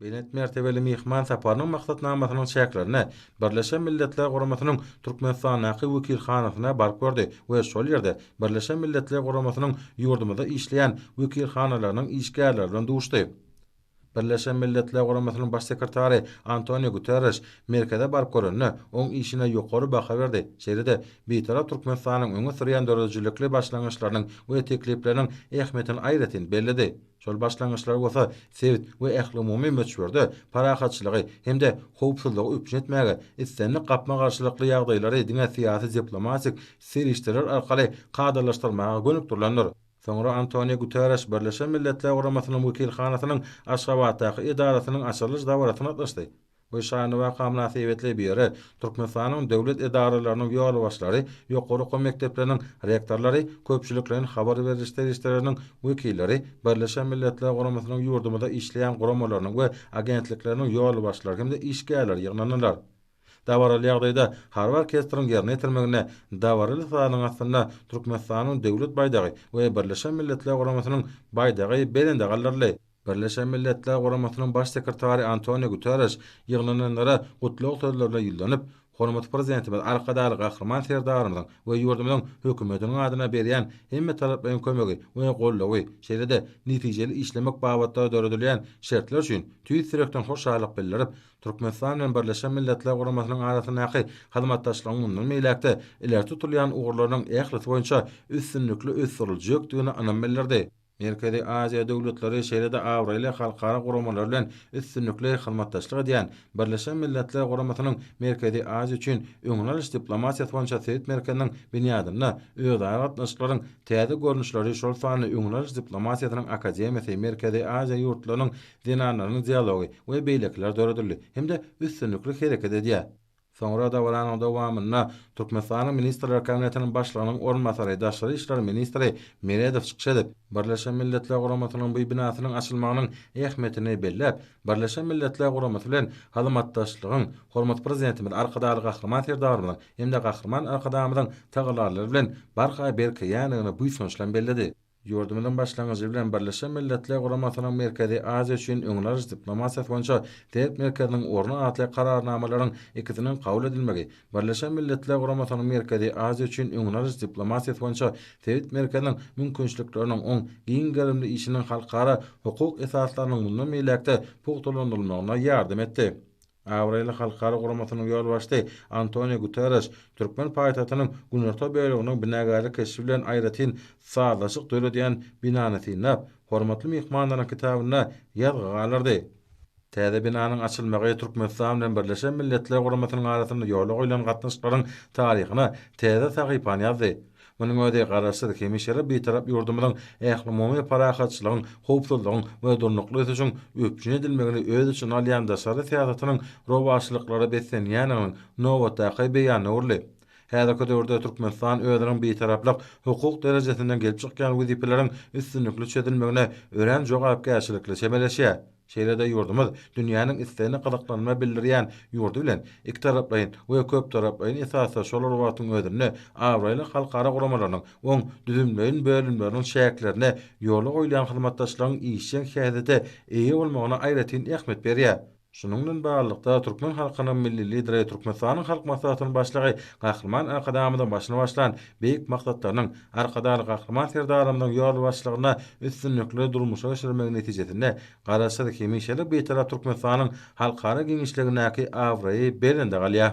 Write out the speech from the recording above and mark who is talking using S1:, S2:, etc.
S1: Belent mertebeli myhman saparynyň maksatnamasynyň çäklerinde Birleşen Milletler Guramasynyň Türkmenistandaky wekilhanasyna baryp gördi we şol ýerde Birleşen Milletler Guramasynyň ýurdumyzda işleýän wekilhanalarynyň işgärleri bilen duşdy. Birleşen Milletler Guramasynyň Baş sekretary Antonio Guterriş merkeze baryp görende, oň işine ýokary baha berdi, şeýle-de Bitarap Türkmenistanyň öňe sürýän döredijilikli başlangyçlarynyň we teklipleriniň ähmiýetini aýratyn belledi. Şol başlangyçlar bolsa sebit we ählumumy möçberde parahatçylygy hem-de howpsuzlygy üpjün etmäge, islendik gapma-garşylykly ýagdaýlary diňe syýasy-diplomatik serişdeler arkaly kadalaşdyrmaga gönükdirilendir. Soňra Antoniu Guterreş Birleşen Milletler Guramasynyň wekilhanasynyň Aşgabatdaky edarasynyň açylyş dabarasyna gatnaşdy. Bu şanly waka mynasybetli bu ýere Türkmenistanyň döwlet edaralarynyň ýolbaşçylary, ýokary okuw mekdepleriniň rektorlary, köpçülikleýin habar beriş serişdeleriniň wekilleri, Birleşen Milletler Guramasynyň ýurdumyzda işleýän guramalarynyň we agentlikleriniň ýolbaşçylary hem-de işgärleri ýygnandylar. Dabaraly ýagdaýda harby orkestriň ýerine ýetirmeginde dabaraly sazyň astynda Türkmenistanyň Döwlet baýdagy we Birleşen Milletler Guramasynyň baýdagy belende galdyryldy. Birleşen Milletler Guramasynyň Baş sekretary Antoniu Guterreş ýygnananlara gutlag sözlerine ýüzlenip, Hormatly Prezidentimiz Arkadagly Gahryman Serdarymyzyň we ýurdumyzyň Hökümetiniň adyndan berýän hemmetaraplaýyn kömegi we goldawy, şeýle-de netijeli işlemek babatda döredilýän şertler üçin tüýs ýürekden hoşallyk bildirip, Türkmenistan bilen Birleşen Milletler Guramasynyň arasyndaky hyzmatdaşlygyň mundan beýläk-de ileri tutulýan ugurlarynyň ählisi boýunça üstünlikli ösdüriljekdigine ynam bildirdi. Merkezi Aziýa döwletleri şeýle-de abraýly halkara guramalar bilen üstünlikli hyzmatdaşlyk edýän Birleşen Milletler Guramasynyň Merkezi Aziýa üçin öňüni alyş diplomatiýasy boýunça sebit merkeziniň binýadynda özara gatnaşyklaryň täze görnüşleri şol sanda öňüni alyş diplomatiýasynyň akademiýasy Merkezi Aziýa ýurtlarynyň zenanlarynyň dialogy we beýlekiler döredildi hem-de üstünlikli hereket edýär. Soňra dabaranyň dowamynda Türkmenistanyň Ministrler Kabinetiniň Başlygynyň orunbasary, daşary işler ministri Meredow çykyş edip, Birleşen Milletler Guramasynyň bu binasynyň açylmagynyň ähmiýetini belläp, Birleşen Milletler Guramasy bilen hyzmatdaşlygyň hormatly Prezidentimiz Arkadagly Gahryman Serdarymyzyň hem-de Gahryman Arkadagymyzyň tagallalary bilen barha berkeýändigini buýsanç bilen belledi. Ýurdumyzyň başlangyjy bilen Birleşen Milletler Guramasynyň Merkezi Aziýa üçin öňüni alyş diplomatiýasy boýunça Sebit merkeziniň orny atly Kararnamalaryň ikisiniň kabul edilmegi Birleşen Milletler Guramasynyň Merkezi Aziýa üçin öňüni alyş diplomatiýasy boýunça Sebit merkeziniň mümkinçilikleriniň oň giň gerimli işiniň halkara hukuk esaslarynyň mundan beýläk-de pugtalandyrylmagyna ýardam etdi. Abraýly halkara guramasynyň ýolbaşçysy Antoniu Guterreş türkmen paýtagtynyň günorta böleginiň binagärlik keşbi bilen aýratyn sazlaşyk döredýän binany synlap, Hormatly myhmanlaryň kitabynda ýazgy galdyrdy. Täze binanyň açylmagy Türkmenistan bilen Birleşen Milletler Guramasynyň arasynda ýola goýlan gatnaşyklaryň taryhyna täze sahypany ýazdy. Munuň özi Garaşsyz, hemişelik Bitarap ýurdumyzyň ählumumy parahatçylygyň, howpsuzlygyň we durnukly ösüşiň üpjün edilmegini öz içine alýan daşary syýasatynyň rowaçlyklara beslenýändiginiň nobatdaky beýanyna öwrüldi. Häzirki döwürde Türkmenistan özüniň Bitaraplyk hukuk derejesinden gelip çykýan wezipeleriň üstünlikli çözülmegine örän jogapkärçilikli çemeleşýär. Şeýle-de ýurdumyz dünýäniň islegine gyzyklanma bildirýän ýurdy bilen ikitaraplaýyn we köptaraplaýyn esasda şol bir wagtyň özünde abraýly halkara guramalarynyň oň düzümleýin bölümleriniň çäklerinde ýola goýulýan hyzmatdaşlygyň işjeň häsiýete eýe bolmagyna aýratyn ähmiýet berýär. Şunuň bilen baglylykda, türkmen halkynyň Milli Lideri Türkmenistanyň Halk Maslahatynyň Başlygy Gahryman Arkadagymyzyň başyny başlan beýik maksatlarynyň, Arkadagly Gahryman Serdarymyzyň ýolbaşçylygynda üstünlikli durmuşa geçirilmegi netijesinde Garaşsyz, hemişelik Bitarap Türkmenistanyň halkara giňişligindäki abraýy belende galýar.